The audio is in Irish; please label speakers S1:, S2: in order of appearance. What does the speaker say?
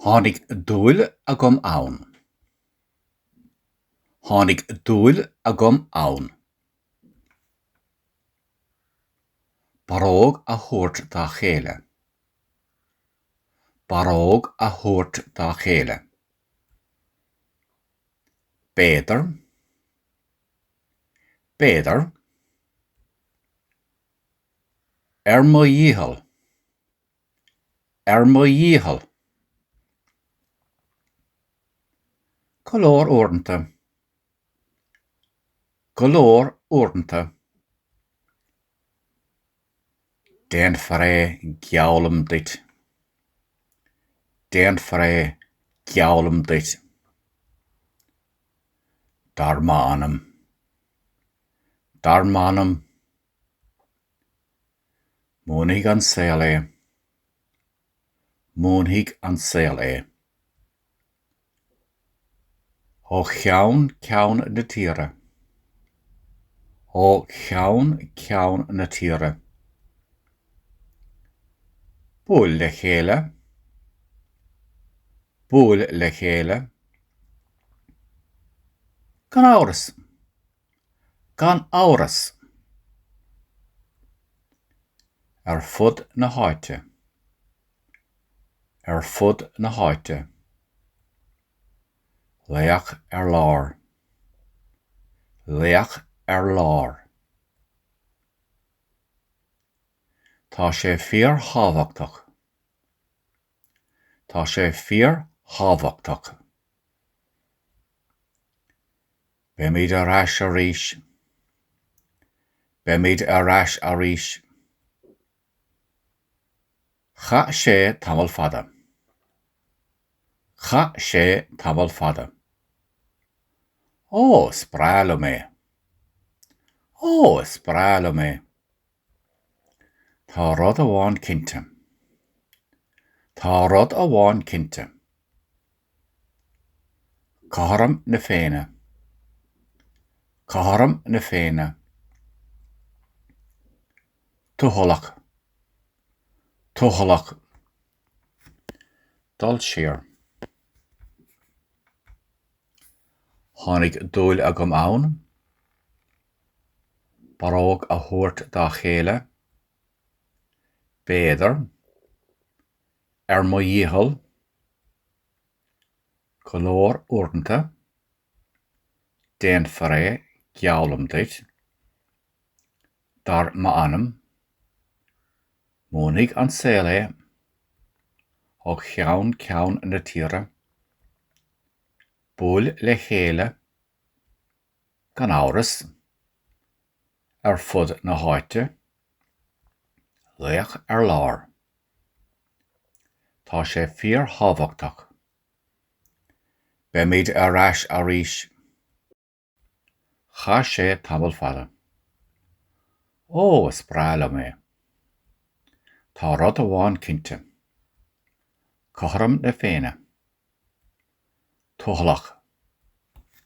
S1: Tháinig dúil agam ann. Tháinig dúil agam ann. Barróg a thabhairt dá chéile. Barróg a thabhairt dá chéile. B'fhéidir. B'fhéidir. Ar mo dhícheall. Ar mo dhícheall. Go leor uaireanta. Go leor uaireanta. Déanfar é, geallaim duit. Déanfar é, geallaim duit. Dar m'anam. dar m'anam! Múinfidh an saol é. Múinfidh an saol é. Ó cheann ceann na tíre. Ó cheann ceann na tíre. Buail le chéile. buail le chéile. Gan amhras. Gan amhras. Ar fud na háite. Ar fud na háite. Leac ar lár. Leac ar lár. Tá sé fíorthábhachtach. Tá sé fíorthábhachtach. Beimid ar ais arís. Beimid ar ais arís. Chaith sé tamall fada. Chaith sé tamall fada. Ó, is breá liom é! Ó, is breá liom é! Tá rud amháin cinnte. Tá rud amháin cinnte. Cothrom na Féinne. Cothrom na Féinne. Tuathalach. Tuathalach. Dul siar. Tháinig dúil agam ann. barróg a thabhairt dá chéile, b'fhéidir, ar mo dhícheall, go leor uaireanta, déanfar é, geallaim duit, dar m'anam, múinfidh an saol é, ó cheann ceann na tíre, buail le chéile, gan amhras, ar fud na háite, laoch ar lár. Tá sé fíorthábhachtach. Beimid ar ais arís. Chaith sé tamall fada. Ó, is breá liom é. Tá rud amháin cinnte. Cothrom na Féinne. Toghlach.